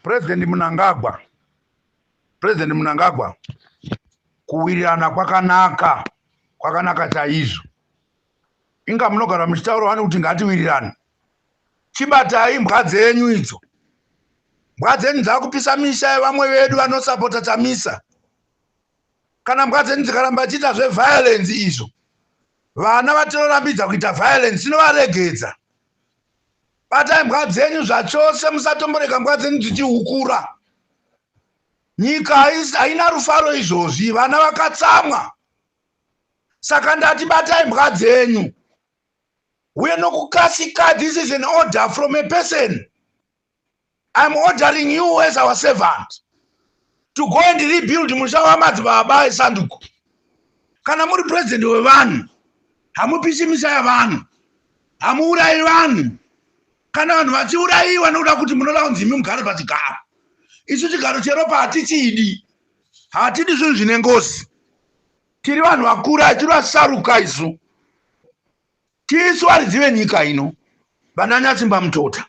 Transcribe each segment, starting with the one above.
President Munangagwa, President Munangagwa, kuwirirana kwakanaka, kwakanaka chaizvo. Inga munogara muchitaura wani kuti ngatiwirirane. Chibatai mbwa dzenyu idzo. Mbwa dzenyu dzakupisa misha yevamwe vedu vanosapota Chamisa. Kana mbwa dzenyu dzikaramba chiita zveviolence izvo, vana vatinorambidza kuita violence tinovaregedza. batai mbwa dzenyu zvachose musatomborega mbwa dzenyu dzichihukura nyika haina rufaro izvozvi vana vakatsamwa saka ndati batai mbwa dzenyu uye nokukasika this is an order from a person I'm ordering you as our servant to go and rebuild musha wamadzibaba esanduko kana muri president wevanhu hamupisi misa yavanhu hamuurayi vanhu kana vanhu vachiurayiwa nokuda kuti munoda kunzi imi mugare pachigaro isu chigaro cheropa hatichidi hatidi zvinhu zvine ngozi tiri vanhu vakura tiri vasaruka isu Tisu varidzi venyika ino, vananyatsimba mutota,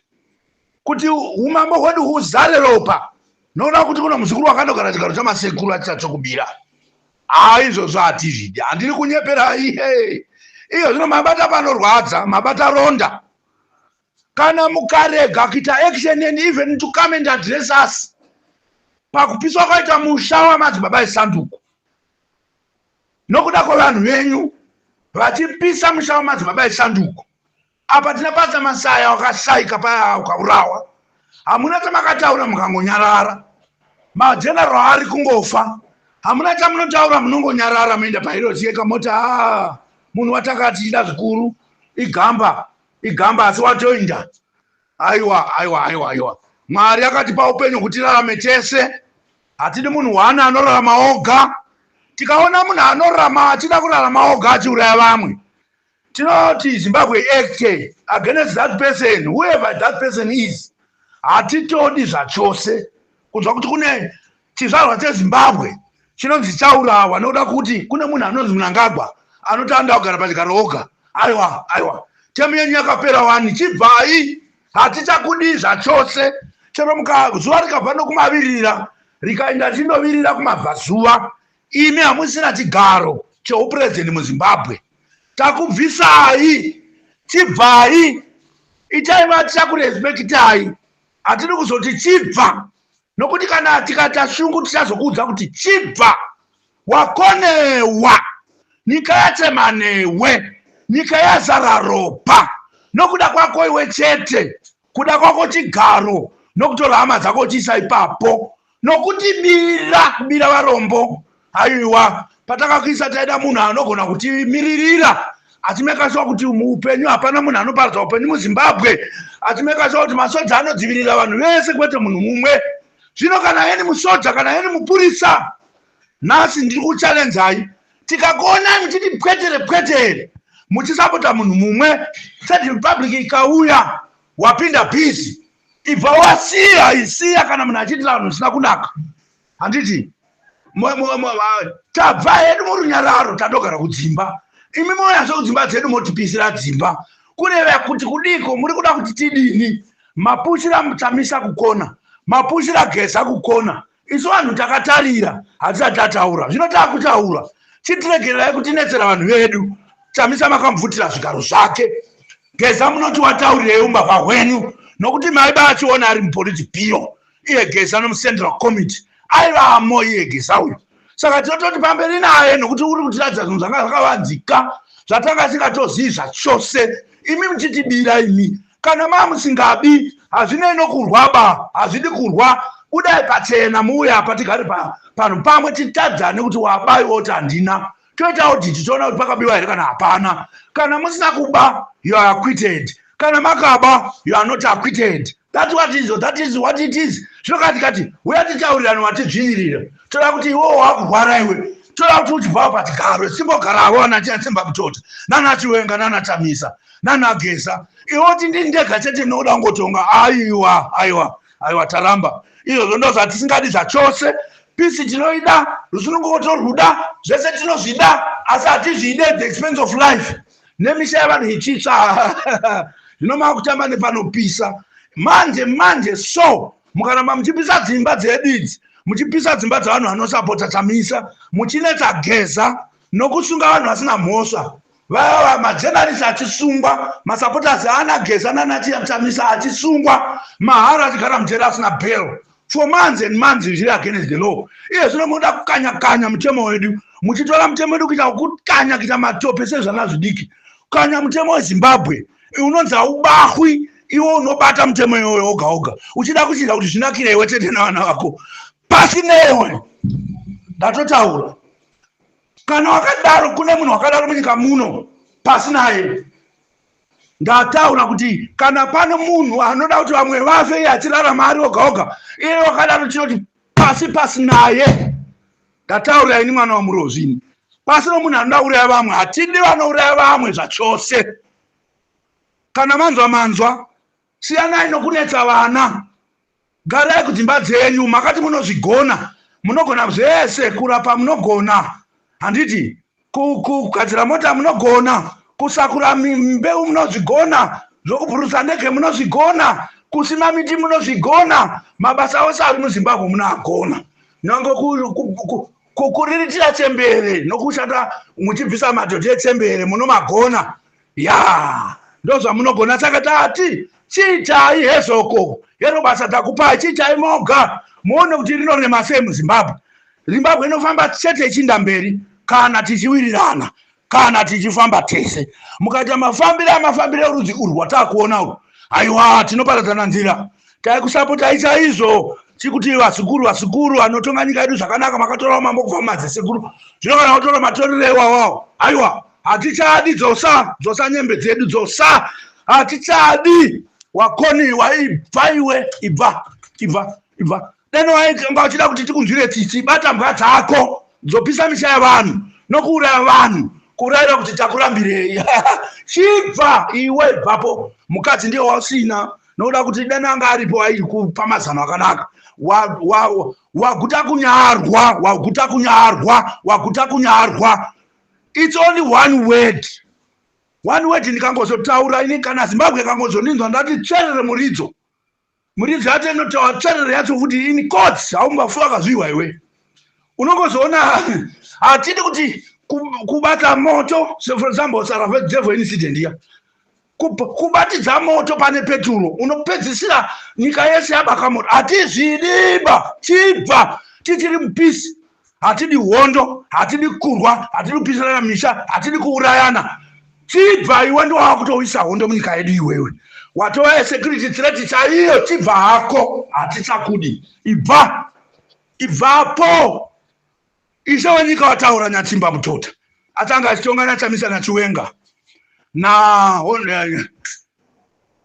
kuti umambo hwedu huzare ropa, noda kuti kuno muzukuru wakandogara chigaro chamasekuru achichatsvokubira. Haa izvozvo hatizvidi, handiri kunyeperai. Hey. Iyo zvino mabata panorwadza, mabata ronda. Kana mukarega kuita action neni even to come and address us pakupiswa kwaita musha wamadzibaba esanduku nokuda kwevanhu venyu vachipisa musha wamadzibaba esanduko apa tina pasa masaya wakashaika paya ukaurawa hamuna chamakataura mukangonyarara majenero ari kungofa hamuna chamunotaura munongonyarara muenda pairosi yeka moti a munhu watanga tichida zvikuru igamba igamba asi watoinda Aiwa, aiwa, aiwa, aiwa. Mwari akatipa upenyu kuti tirarame tese. Hatidi munhu one anorarama oga. Tikaona munhu anorarama achida kurarama oga achiuraya vamwe. Tinoti Zimbabwe Act against that person, whoever that person is. Hatitodi zvachose. kunzwa kuti kune chizvarwa chezimbabwe chinonzi chaurawa nokuda kuti kune munhu anonzi munangagwa anoti anoda kugara pachigaro oga aiwa aiwa temu yenyu yakapera wani chibvai hatichakudii zvachose chero mukazuva rikabva nokumavirira rikaenda richindovirira kumabvazuva imi hamusina chigaro cheupurezidendi muzimbabwe takubvisai chibvai itai vatichakurespekitai hatidi kuzoti chibva nokuti kana tikaita shungu tichazokuudza kuti chibva wakonewa nyika yachema newe nyika yazara ropa nokuda kwako iwe chete kuda kwako chigaro nokutora hama dzako chiisa ipapo nokuti mira kumira varombo aiwa patakakuisa taida munhu anogona kutimiririra atimekashuwa kuti muupenyu hapana munhu anoparadza upenyu muzimbabwe atimekashuwa kuti masoja anodzivirira vanhu vese kwete munhu mumwe zvino kana heni musoja kana heni mupurisa nhasi ndiri kuchalenzai tikakuonani titi pwetere pwetere muchisapota munhu mumwe third republic ikauya wapinda bhizi ibva wasiya isiya kana munhu achiti vanhu zvisina kunaka handiti tabva hedu murunyararo tadogara kudzimba imi moyazve kudzimba dzedu motipisira dzimba kureva kuti kudiko muri kuda kuti tidini mapushira mutamisa kukona mapushira geza kukona isu vanhu takatarira hatisati tataura zvino takutaura chitiregererai kutinetsera vanhu vedu chamisa makamubvutira zvigaro zvake geza munoti wataurireyi umbavha hwenyu nokuti maiba achiona ari mupoliti biro iye geza nomucentral committee aivamo iye geza uyu saka tinototi pamberi naye nokuti uri kutiratidza zvinhu zvanga zvakavanzika zvatanga singatozivi zvachose imi muchitibira imi kana mamusingadi hazvinei nokurwa ba hazvidi kurwa budai pachena muuye apa tigare panhu pamwe titadzane kuti wabai oti handina toita oditi toona kuti pakabiwa here kana hapana kana musina kuba you are acquitted kana makaba you are not acquitted that what is that is what it is zvinokati kati uya titaurirani watizvinyirira toda kuti iwowo wakurwara iwe toda kuti uchibvawo pachigaro simbo garavo anachiasimba kutoti nanachiwenga nanatamisa nana geza iwe kuti ndini ndega chete ndinoda kungotonga aiwa aiwa aiwa taramba izvozvo ndo zvatisingadi zvachose pisi tinoida rusununguko torwuda zvese tinozvida asi hatizvide the expense of life nemisha yavanhu ichitsva zvino makutamba nepanopisa manje manje so mukaramba muchipisa dzimba dzedu idzi muchipisa dzimba dzevanhu vanosapota chamisa muchinetsa geza nokusunga vanhu vasina mhosva vava majenarisi achisungwa masupporters aana geza nanatiamtamisa achisungwa mahara achigara mujeri asina bell for months and months zviri against the law iye zvino munoda kukanya kanya mutemo wedu muchitora mutemo wedu kuita kukanya kuita matope sezvana zvidiki kukanya mutemo wezimbabwe unonzi haubahwi iwo unobata mutemo iwoyo oga oga uchida kuchiita kuti zvinakire iwe tete navana vako pasi newe ndatotaura kana wakadaro kune munhu wakadaro munyika muno pasi naye ndataura kuti kana pane munhu anoda kuti vamwe vafe iye achirarama ari oga oga iye wakadaro tinoti pasi pasi naye ndataura ini mwana wamurozvini pasi nomunhu anoda uraya vamwe hatidi vanouraya vamwe zvachose kana manzwa manzwa Siyanai nokunetsa vana. Garai kudzimba dzenyu. Makati munozvigona. Munogona zvese. Kurapa munogona. Handiti? Kugadzira mota munogona. Kusakura mbeu munozvigona. Zvokubhurusa ndege munozvigona. Kusima miti munozvigona. Mabasa ose ari muZimbabwe munoagona. Nyange kukuriritira chembere nokushanda muchibvisa madhodhi echembere munomagona. yaa ndozvamunogona saka tati chiitai hezvoko hero basa takupai chiitai moga muone kuti rinorema sei muzimbabwe zimbabwe inofamba chete ichinda mberi kana tichiwirirana kana tichifamba tese mukaita mafambire amafambire orudzi urwu watakuona urwu aiwa tinoparadzana nzira taikusapotai chaizvo chikuti vazukuru vazukuru anotonga nyika yedu zvakanaka makatora mambo kubva mumadzisekuru zvino kana otora matoriro iwawawo aiwa hatichadi dzosa dzosa nyembe dzedu dzosa hatichadi wakoniwa ibva iwe ibva ibva ibva deno waikanga uchida kuti tikunzwire tsitsi bata mbwa dzako dzopisa misha yavanhu nokuuraya vanhu kurayira kuti takurambirei chibva iwe ibvapo mukadzi ndiye wausina nokuda kuti deno anga aripo airi kupa mazano akanaka waguta kunyarwa waguta kunyarwa waguta kunyarwa its only one word one word ndikangozotaura ini kana zimbabwe kangozoninzwa ndati tsverere muridzo muridzo yacho inotaura tsverere yacho kuti in court haumbafu akazviwa iwe unongozoona hatidi kuti kubata moto for example saravadevil incident iya kubatidza moto pane peturo unopedzisira nyika yese yabaka moto hatizvidiba chibva tichiri mupisi hatidi hondo hatidi kurwa hatidi kupisirana misha hatidi kuurayana chibva iwe ndowava kutouyisa hondo munyika yedu iwewe watova yesecurity threat chaiyo chibva hako hatichakudi ibva ibvapo Ishe wenyika wataura Nyatsimba Mutota atanga achitonga naChamisa naChiwenga na eh,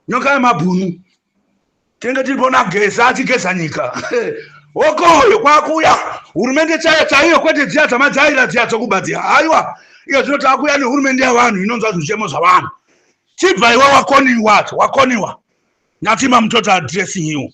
nyoka yemabhunu tinenge tiri pona geza achigeza nyika wokoyo kwakuuya hurumende chaiyo chaiyo kwete dziya dzamajaira dziya dzokuba dziya aiwa iyo zvino taakuuya nehurumende yavanhu inonzwa zvichemo zvavanhu chibva iwe wakoniwa wakoniwa Nyatsimba Mutota addressing you